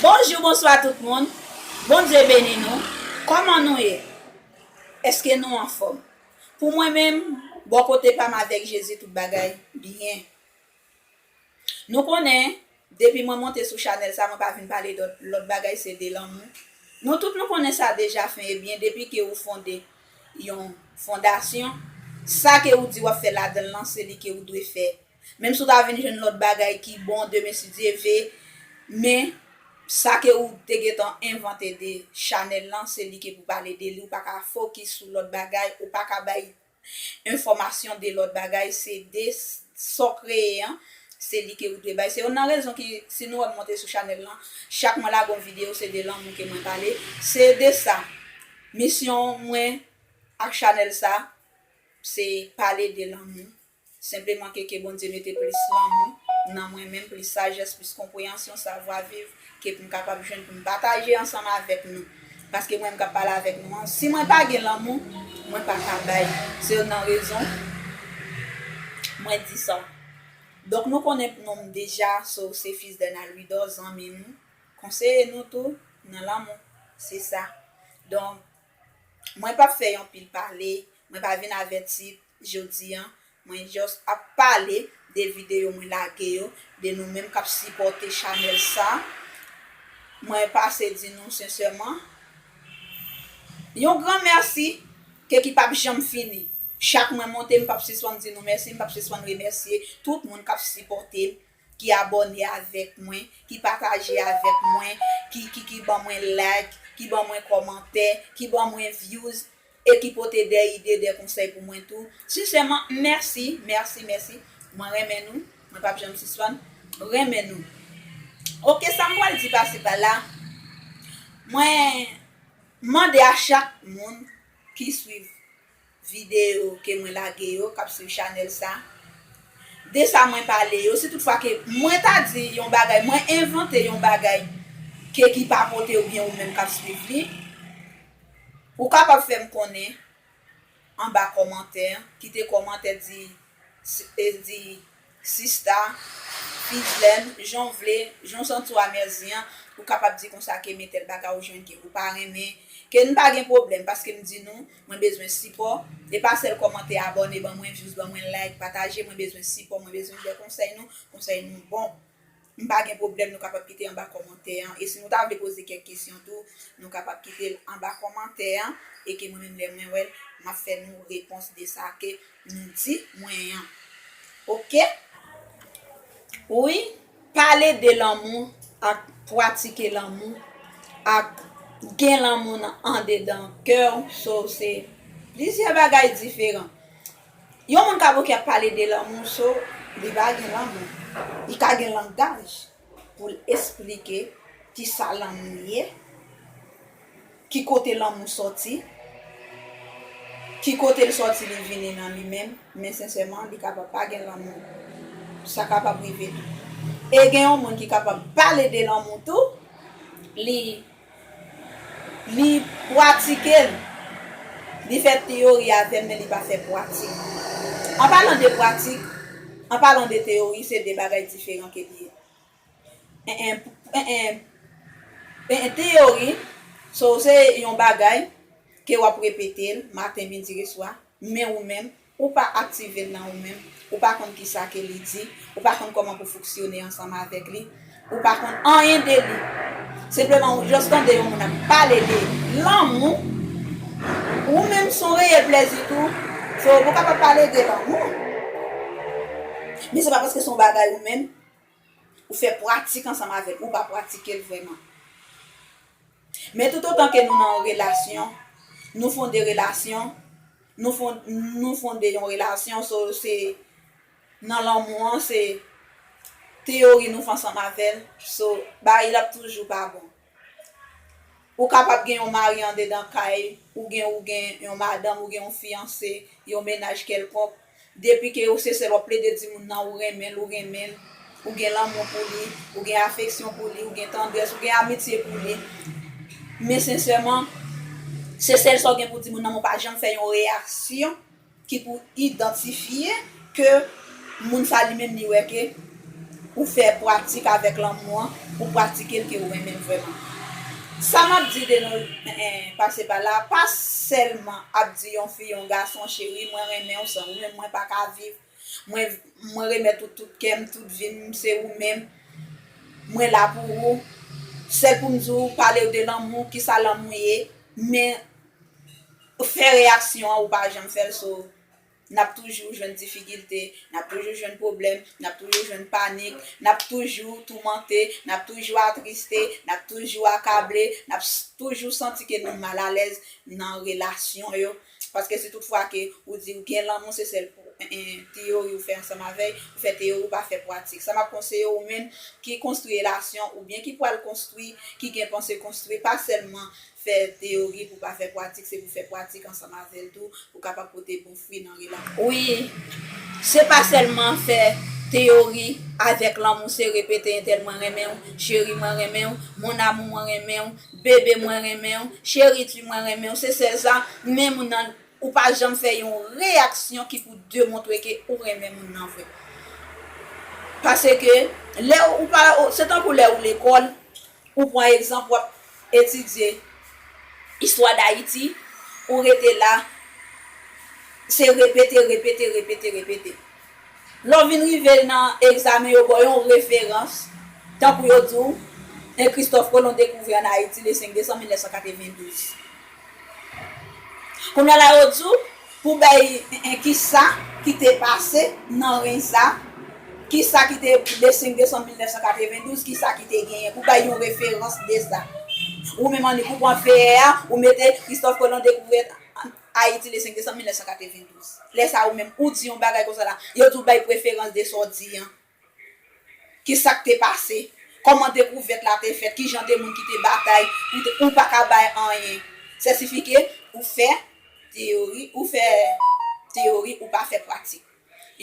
Bonjou bonswa tout moun Bondye beni nou kòman nou ye eske nou anfòm pou mwen menm bò kote pam avèk Jezi tout bagay byen nou konnen depi mwen monte sou chanèl sa mwen pa vin pale dòt lòt bagay se de lanmou nou tout nou konnen sa deja fen ebyen depi ke ou fonde yon fondasyon sa ke ou di wap fè ladanl lan se li ke ou dwe fè Menm si ou ta vin jwenn lòt bagay ki bon demen si Dye ve, men sa ke ou te gentan envante de chanèl lan se li ke pou pale de li ou pa ka fokis sou lòt bagay ou pa ka bay enfòmasyon de lòt bagay se de sa w kreye an se li ke ou dwe bay se youn nan rezon ki si nou wè m monte sou chanèl lan chak mwen lage yon videyo se de lanmou ke mwen pale se de sa misyon mwen ak chanèl sa se pale de lanmou. Senpleman ke ke Bondye mete plis lanmou nan mwen menm, plis sajès, plis konpreyansyon, savwa viv ke pou m kapab jwenn pou m pataje ansanm avèk nou. Paske mwen menm k ap pale avèk nou an, si mwen pa gen lanmou, mwen pa ka bay. Se youn nan rezon mwen di sa. Donk nou konnen non m deja, so se Fils Dernal Louidor, zanmi nou, konseye nou tou nan lanmou. Se sa. Donk mwen p ap fè yon pil pale, mwen pa vin avèti. Jodi an mwen just ap pale de video mwen lage yo, de nou menm kap sipòte chanèl sa. Mwen pase di nou sensèman yon gran mèsi ke ki pap janm fini. Chak mwen monte m pap sispann di nou mèsi, m pap sispann remèsye tout moun kap sipòte ki abòne avèk mwen, ki pataje avèk mwen, ki ki ki ban mwen like, ki ban mwen kòmantè, ki ban mwen views e ki pote dè ide, dè konsèy pou mwen tou. Sinsèman, mèsi, mèsi, mèsi. Mwen renmen nou. Mwen pap janm sispann renmen nou. Ok, sa m pral di pasi pala, mwen mande a chak moun ki swiv. Videyo ke mwen lage yo kap swiv chanèl sa. De sa mwen pale yo, si tout fwa ke mwen ta di yon bagay, mwen envante yon bagay ke ki pa pote ou byen ou menm kap swiv li, ou kapab fèm konnen anba kòmantè, kite kòmantè di, di Sista, Fidlène, jan w vle, jan w santi w amèzi an, ou kapab di konsa ke men tèl bagay ou jwenn ke ou pa renmen, ke n pa gen pwoblèm paske m di nou, mwen bezwen sipò, e pa sèl kòmante, abòne ban mwen, vyouz ban mwen, like, pataje, mwen bezwen sipò, mwen bezwen de konsèy nou, konsèy nou bon. M pa gen pwoblèm nou kapab kite anba kòmantè an e si nou ta vle poze kèk kesyon tou nou kapab kite l anba kòmantè an e ke mwen menm lè mwen wè l m ap fè nou repons de sa ke nou di mwen an ok wi pale de lanmou ak pwatike lanmou ak gen lanmou nan andedan kè w so se plizyè bagay diferan. Yon moun ka bouke ap pale de lanmou so li pa gen lanmou. Li ka gen langaj pou l esplike ki sa lanmou ye, ki kote lanmou sòti, ki kote l sòti li vini nan li menm, men sensèman li kapab pa gen lanmou. Sa kapab rive tou. E gen yon moun ki kapab pale de lanmou tou, li. Li pratike l. Li fè teyori avè l men li pa fè pratik. An palan de pratik, an palan de teyori se de bagay diferan ke li ye. Eeh teyori so se yon bagay ke w ap repete l maten, midi e swa men ou menm Ou pa aktive l nan ou menm, ou pa konn kisa ke li di, ou pa konn kòman pou fouksyone ansanm avèk li, ou pa konn anyen de li. Senpleman ou just tande yon moun ap pale de lanmou, ou menm son reyèl plèzi tou, so ou kapab pale de lanmou, men se pa paske son bagay ou menm, Ou fè pratik ansanm avè l, ou pa pratike l vrèman. Men toutotan ke nou nan yon relasyon, nou fonde relasyon, nou fonde yon relasyon, so se nan lanmou an, se teyori nou fè ansanm avè l, so bagay yo ap toujou pa bon. Ou kapab gen yon mari andedan kay ou gen ou gen yon madanm ou gen yon fiyanse yon mennaj kèlkonk depi ke ou se sèl wap plede di moun nan ou renmen l ou renmen l ou gen lanmou pou li ou gen afeksyon pou li ou gen tandrès ou gen amitye pou li men sensèman se sèl sa w gen pou di moun nan men w pa janm fè yon reyaksyon Ki pou idantifye ke moun sa li menm li wè ke pou fè pratik avèk lanmou an, pou pratike l ke ou renmen l vrèman. Sa m ap di de nou pase pa la a, pa sèlman ap di yon fi, yon gason, cheri mwen renmen w, san ou menm mwen pa ka viv, mwen remèt ou tout kè m, tout vi m, se ou menm, mwen la pou ou, sèl pou m di w pale w de lanmou, kisa lanmou ye, men fè reyaksyon an ou pa janm fèl so nap toujou jwenn difikilte nap toujou jwenn pwoblèm nap toujou jwenn panik nap toujou toumante nap toujou atriste nap toujou akable nap toujou santi ke nou mal alèz nan relasyon yo paske si tout fwa ke ou di ou gen lanmou se sèl pou teyori ou fè ansanm avèl ou fè teyori ou pa fè pwatik sa map konseye ou menm ki konstwi relasyon oubyen ki pwal konstwi ki gen panse konstwi pa sèlman Fè teyori pou pa fè pwatik se pou fè pwatik ansanm avèl tou pou kapab pote bon fwi nan rela. Wi Se pa sèlman fè teyori avèk lanmou se repete entèl mwen renmenw cheri mwen renmenw mon amour mwen renmenw bebe mwen renmenw cheri tu mwen renmenw se sèl sa men moun nan ou pa janm fè yon reyaksyon ki pou demontre ke ou renmen moun nan vre paseke lè ou pa se tankou lè ou lekòl Ou pran egzanp wap etidye istwa dayiti ou rete la se repete repete repete repete lè w vin rive nan egzamen yo baw yon referans tankou yo di w 1 kristòf kolon dekouvri an ayiti le 5 desanm 1992 Kounya la yo di w pou bay en kisa ki te pase nan reny sa kisa ki te de 5 desanm 1992 kisa ki te genyen pou bay yon referans de sa ou menm annik ou pran feyè a ou mete Christophe Colon dekouvè Ayiti le 5 desanm 1992 lè sa ou menm ou di yon bagay konsa la yo di w bay preferans de sa w di an Ki sa k te pase? Kòman dekouvèt la te fèt? Ki jan de moun ki te batay pou te. Ou pa ka bay anyen. Sètifike, ou fè teyori, ou fè teyori, ou pa fè pratik.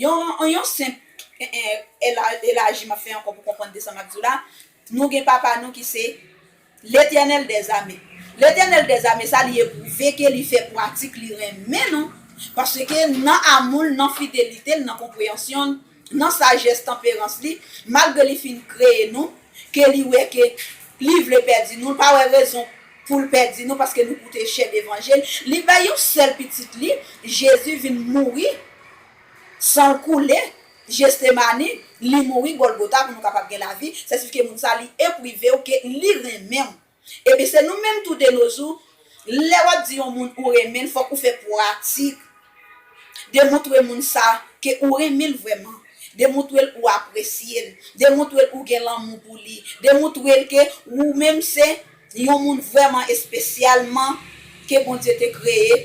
Yon, yon senp elaji m ap fè ankò pou konprann de sa m ap di w la, nou gen papa nou ki se. Letènèl dè zame. Letènèl dè zame sa li epwouve ke li fè pwatik li renmen nou, paske nan amou l, nan fidelite l, nan konpreyansyon l, nan sajès tanperans li, malgre li fin kreye nou, ke li wè ke li vle pèdi nou, l pa wè rezon pou l pèdi nou paske nou koute chè devanjil, li bay yon sèl pitit li, Jezi vin mouri, san l koule, Gesthémani, li mouri Golgotha pou nou kapab gen lavi, sètifike moun sa li epwive w ke li renmen w. Ebyen se nou menm tou de no zou, lè wap di yon moun ou renmen l fok ou fè pwatik demoutre moun sa ke ou renmen l vrèman, demoutre l ou apresye l, demoutre l ou gen lanmou pou li, demoutre l ke ou menm se. Li yon moun vrèman espesyalman ke Bondye te kreye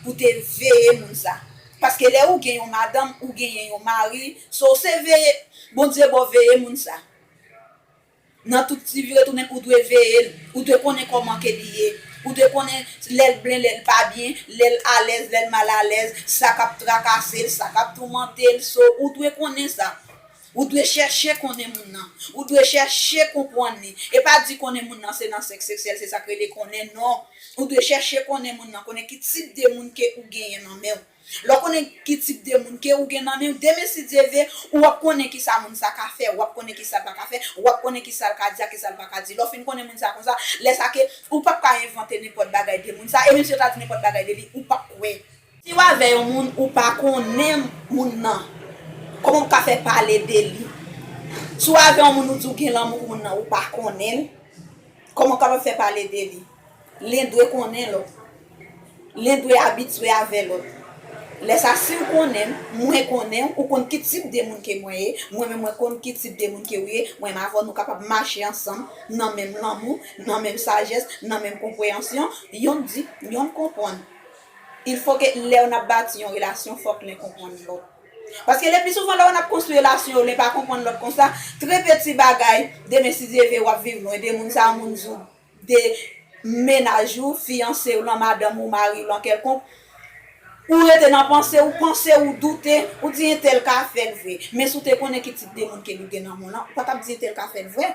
pou te veye moun sa. Paske lè ou gen yon madanm ou genyen yon mari, so se veye Bondye baw veye moun sa. Nan tout ti vire tounen ou dwe veye l, ou dwe konnen kòman ke li ye, ou dwe konnen lè l blen lè l pa byen, lè l alèz lè l mal alèz, sa kap trakase l, sa kap toumante l, so ou dwe konnen sa. Ou dwe chèche konnen moun nan. Ou dwe chèche konpwann li. E pa di konnen moun nan se nan sèks seksyèl se sak rele konnen non. Ou dwe chèche konnen moun nan, konnen ki tip de moun ke ou genyen nan men w. Lè w konnen ki tip de moun ke ou gen nan men w, demen si Dye ve, ou ap konnen ki sa moun sa ka fè, ou ap konnen ki sa l pa ka fè, ou ap konnen ki sa l ka di ak ki sa l pa ka di. Lè w fin konnen moun sa konsa, lè sa ke ou pap ka envante nenpòt bagay de moun sa, e menm si yo ta di nenpòt bagay de li, ou pap kwè. Siw avè yon moun ou pa konnen moun nan koman ou ka fè pale de li siw avè yon moun ou di ou gen lanmou pou moun nan ou pa konnen l koman ou kapab fè pale de li len dwe konnen lòt len dwe abitye avè lòt lè sa siw konnen m mwen konnen w ou konn ki tip de moun ke mwen ye mwen menm mwen konn ki tip de moun ke ou ye mwen menm avè w nou kapab mache ansanm nan menm lanmou nan menm sajès nan menm konpreyansyon yonn di yonn konprann Il fo ke lèw nap bati yon relasyon fòk len konpwann lòt. Paske le pi souvan lè w nap konstwi relasyon yo len pa konpwann lòt konsa, tre peti bagay demen si Dye ve wap viv lwen de moun sa moun di w de mennaj ou, fiyanse w lan, madanm ou, mari w lan kèlkonk, ou rete nan panse ou panse ou doute, ou di entèl ka fèl vre. Men si w te konnen ki tip de moun ke li gen nan moun lan, ou pa tap di entèl ka fèl vre.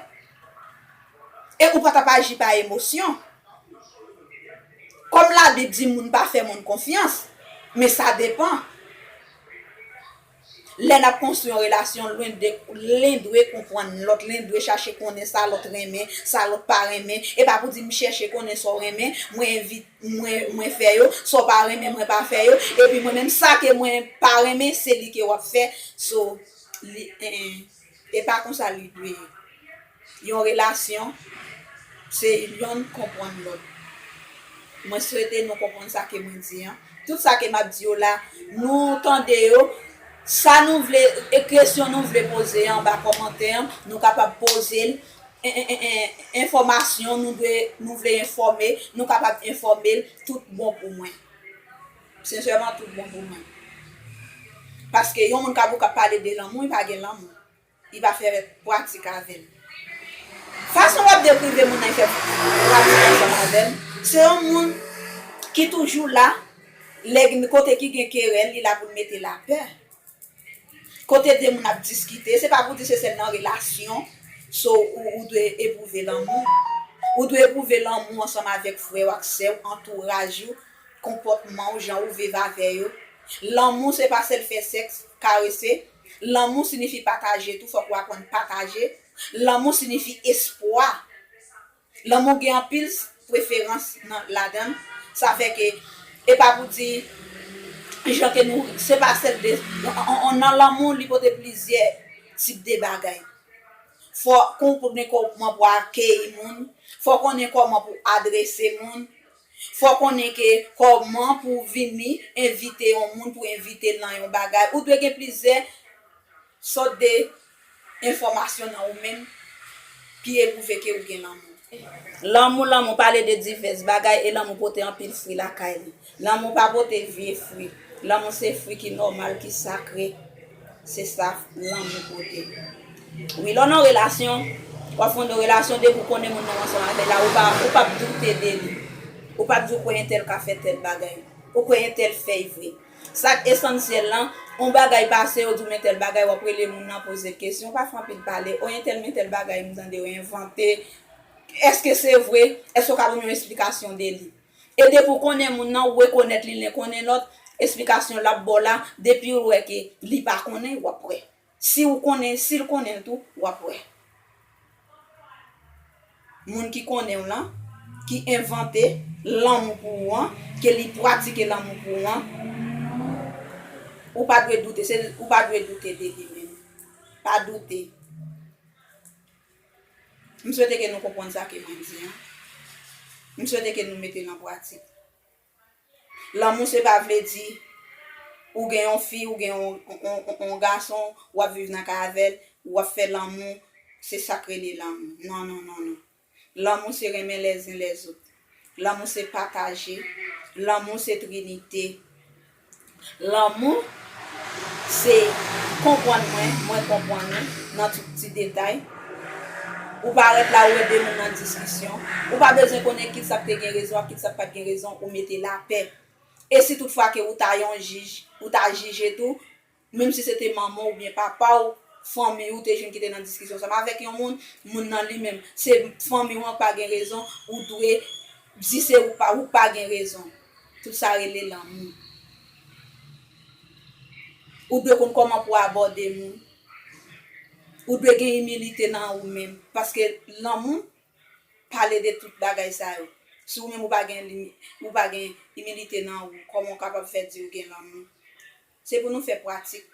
E ou pa t ap aji pa emosyon. Kòm Labib di moun pa fè moun konfyans, men sa depan. Lè n ap konstwi yon relasyon, lwen de len dwe konprann lòt, len dwe chache konnen sa lòt renmen, sa lòt pa renmen. E pa pou di m chèche konnen sa w renmen, mwen fè yo, sa w pa renmen mwen pa fè yo, epi mwen menm sa ke mwen pa renmen se li ke w ap fè. E pa konsa li dwe ye. Yon relasyon se yonn konpwann lòt. Mwen swete nou konpwann sa ke mwen di an. Tout sa ke map di yo la, nou tande yo, sa nou vle, e kesyon nou vle poze anba kòmantè an, nou kapab poze l, enfòmasyon nou vle enfòme, nou kapab enfòme l, tout bon pou mwen. Sincèrement tout bon pou mwen. Paske yon moun kap ou kap pale de lanmou li pa gen lanmou. Li pa fè pratik avèl. Fason wap deprive moun nan li fè pratik ansanm avèl. Se yon moun ki toujou la lè gen kote ki gen kerèl li la poul mete lapè. Kote de moun ap diskite, se pa pou di se sèl nan relasyon so ou dwe epwouve lanmou. Ou dwe epwouve lanmou ansanm avèk frè w ak sè w, antouraj ou, konpòtman w, jan ou viv avè yo. Lanmou se pa sèl fè sèks, karese. Lanmou sinifi pataje tou, fòk ou aprann pataje. Lanmou sinifi espwa. Lanmou gen anpil preferans nan ladann sa fè ke e pa pou di jan ke nou se pa sèl de nan lanmou li pote plizyè tip de bagay fò kon konnen kòman pou akeyi moun fò konnen kòman pou adrese moun fò konnen ke kòman pou vini envite yon moun pou envitel nan yon bagay ou dwe gen plizyè sòt de Enfòmasyon nan ou menm ki epwouve ke ou gen lanmou. Lanmou Lanmou pale de divès bagay e lanmou pote anpil fwi lakay li. Lanmou pa pote vye fwi. Lanmou se fwi ki nòmal, ki sakre. Se sa lanmou pote. Wi, lè w nan relasyon, w ap fonde yon relasyon, depi ou konnen moun nan, w ansanm avè l la, ou pap doute de li. Ou pap di ou kwè entèl ka fè tèl bagay. Ou kwè entèl fèy vre. Sak esansyèl lan, on bagay pase yo di w men tèl bagay wap rele moun nan poze kesyon, pa fè anpil pale, oyen tèl men tèl bagay m tande yo envante, eske se vre, eske w ka ban m yon esplikasyon de li. E depi w konnen moun nan, w rekonèt li len konnen lòt, esplikasyon lap ba w la, depi w wè ke li pa konnen, wap wè. Si ou konnen l sil konnen l tou wap wè Moun ki konnenw lan ki envante lanmou pou ou an ke li pratike lanmou pou ou an ou pa dwe doute se ou pa dwe doute de li menm pa doute M swete ke nou konprann sa ke mwen di an M swete ke nou mete l an pratik. Lanmou se pa vle di ou gen yon fi ou gen yon gason wap viv nan kay avèl wap fè lanmou se sak rele lanmou non non non non lanmou se renmen lèzen lèzot lanmou se pataje lanmou se trinite Lanmou, se konpwann mwen, mwen konpwann ou, nan tout ti detay. Ou pa ret la ou ede moun nan diskisyon. Ou pa bezwen konnen kit sa k te gen rezon ak kit sa k pa t gen rezon, ou mete lapè. E si tout fwa ke ou ta yon jij, ou ta jije tou, Menm si se te manman w oubyen papa w, fanmi w te jwenn ki te nan diskisyon ansanm avèk yon moun, moun nan li menm, se fanmi w an k pa gen rezon, ou dwe di se ou pa, ou pa gen rezon. Tout sa rele lanmou. Ou dwe konn kòman pou w abòde moun. Ou dwe gen imilite nan ou menm. Paske lanmou pale de tout bagay sa yo. Si ou menm ou pa gen imilite nan ou, kòman ou kapab fè di ou gen lanmou? Se pou nou fè pratik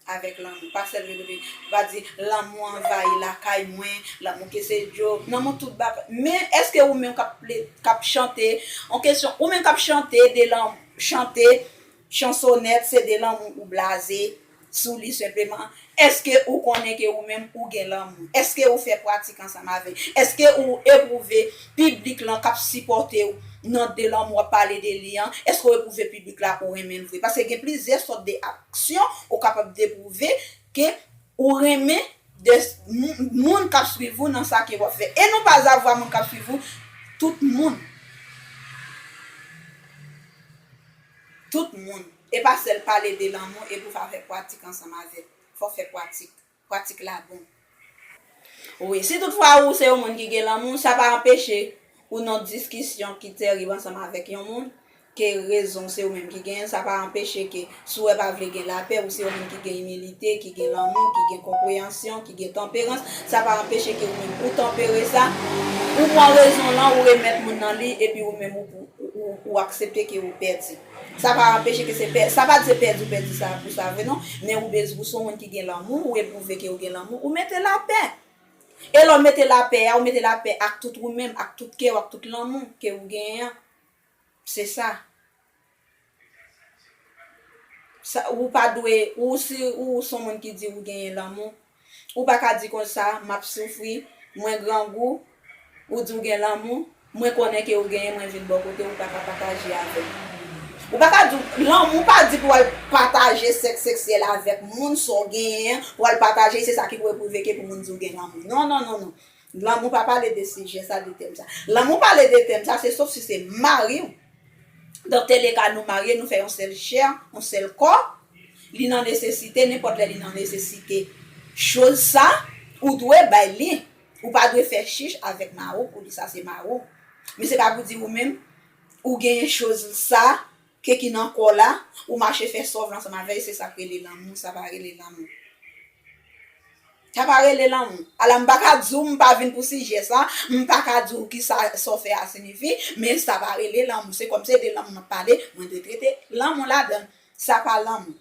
avèk lanmou, pa sèl repete, pa di, lanmou anvayi lakay mwen, lanmou ke se djo, lanmou tout bagay. Men, èske ou menm k ap chante, yon kesyon, ou menm k ap chante de lanmou, chante chansonèt se de lanmou ou blaze sou li senpleman? Èske ou konnen ke ou menm ou gen lanmou? Èske ou fè pratik ansanm avèk? Èske ou epwouve piblik lan k ap sipòte ou nan de lanmou w ap pale de li an? Èske ou epwouve piblik la ou renmen l vre? Paske gen plizyè sòt de aksyon ou kapab de pwouve ke ou renmen de moun k ap swiv ou nan sa ke w ap fè. E nou pa zavwa moun k ap swiv ou, tout moun. Tout moun. Epa sèl pale de lanmou epi ou va fè pwatik ansanm avèl fòw fè pwatik pwatik la bon wi si tout fwa ou se yon moun ki gen lanmou sa pa anpeche ou non diskisyon ki terib ansanm avèk yon moun ke rezon se ou menm ki genyenl sa pa anpeche ke si wè pa vle gen lapè ou se yon moun ki gen imilite ki gen lanmou ki gen konpreyansyon ki gen tanperans sa pa anpeche ke ou menm ou tanpere sa ou pwan rezon lan ou remèt moun nan li epi ou menm ou aksepte ke ou pèdi. Sa pa anpeche ke se pè, sa pa di se pèdi ou pèdi sa pou sa vre non, men ou bez, ou se yon moun ki gen lanmou, ou epwouve ke ou gen lanmou, ou mete lapè. E lè w mete lapè a, ou mete lapè ak tout ou menm, ak tout kè w, ak tout lanmou ke ou genyen an. Se sa. Sa, ou pa dwe, ou si ou se yon moun ki di ou genyen lanmou, Ou pa ka di konsa, m ap soufri, mwen grangou, ou di w gen lanmou, mwen konnen ke ou genyen mwen vin bò kote w ou ta ka pataje avè m. Ou pa ka di w lanmou pa di pou w al pataje sèks seksyèl avèk moun sa w genyen an, pou w al pataje l se sa ki pou epwouve ke pou moun di w gen lanmou. Non non non non. Lanmou pa pale de sijè sa, de tèm sa. Lanmou pale de tèm sa, se sof si se mari w. Dans tel le cas, nou marye, nou fè yon sèl chè, yon sèl kò. Li nan nesesite, nenpòt lè li nan nesesite choz sa, ou dwe bay li. Ou pa dwe fè chich avèk mari w pou di sa se mari w. Men se pa pou di ou menm, ou genyen choz sa, Ke ki nan kòw la, ou mache fè sòv l ansanm avèl se sak rele lanmou, sa pa rele lanmou. Sa pa rele lanmou. Ala m paka di w m pa vin pou sijè sa, m paka di w kisa sa w fè a sinifi, men sa pa rele lanmou. Se kòm se de lanmou map pale, mwen dwe trete lanmou ladan l. Sa pa lanmou.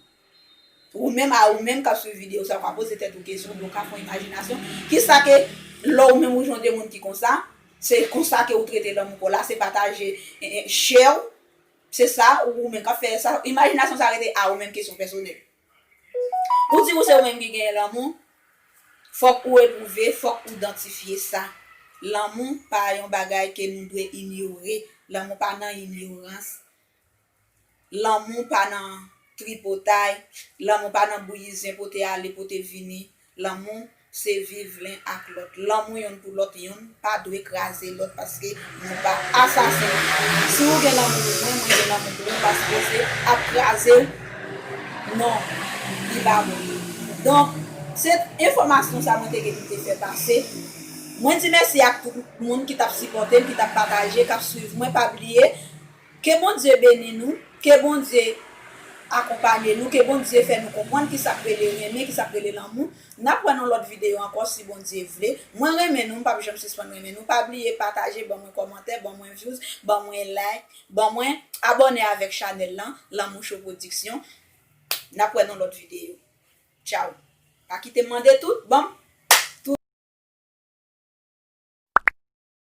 Ou menm a ou menm kap swiv video sa ou ka poze tèt ou kesyon oubyen ou ka fon imajinasyon, kisa ke lè ou menm ou jwenn de moun ki konsa, se konsa ke ou trete lanmou paw la, se pataje chè w, Se sa ou menm kap fè sa imajinasyon sa rete a ou menm kesyon pèsonèl ou di ou se ou menm ki genyen lanmou fòk ou epwouve fòk ou dantifye sa lanmou pa yon bagay ke nou dwe inyore lanmou pa nan inyorans lanmou pa nan tripotay lanmou pa nan bouyi zen pote ale pote vini Lanmou se viv len ak lòt. Lanmou yonn pou lòt yonn pa dwe kraze lòt paske nou pa asasen. Si ou gen lanmou pou mwen, mwen gen lanmou pou ou paske se ap kraze non li pa bon. Donk se enfòmasyon sa mwen te gen pou te fè pase. Mwen di mèsi ak tout moun ki tap sipòte m, ki tap pataje, kap swiv mwen pa bliye. Ke Bondye beni nou, ke Bondye akonpanye nou, ke Bondye fè nou konpwann kisa k rele renmen, kisa k rele lanmou. Nap wè nan lòt video ankò si Bondye vle. Mwen renmen nou, m pap janm sispann renmen nou. Pa bliye pataje, ban mwen kòmantè, ban mwen vyouz, ban mwen like, ban mwen abòne avèk chanèl lan, Lanmou Show Production. Nap wè nan lòt video. Tchaw. Pa kitem mande tout, banm.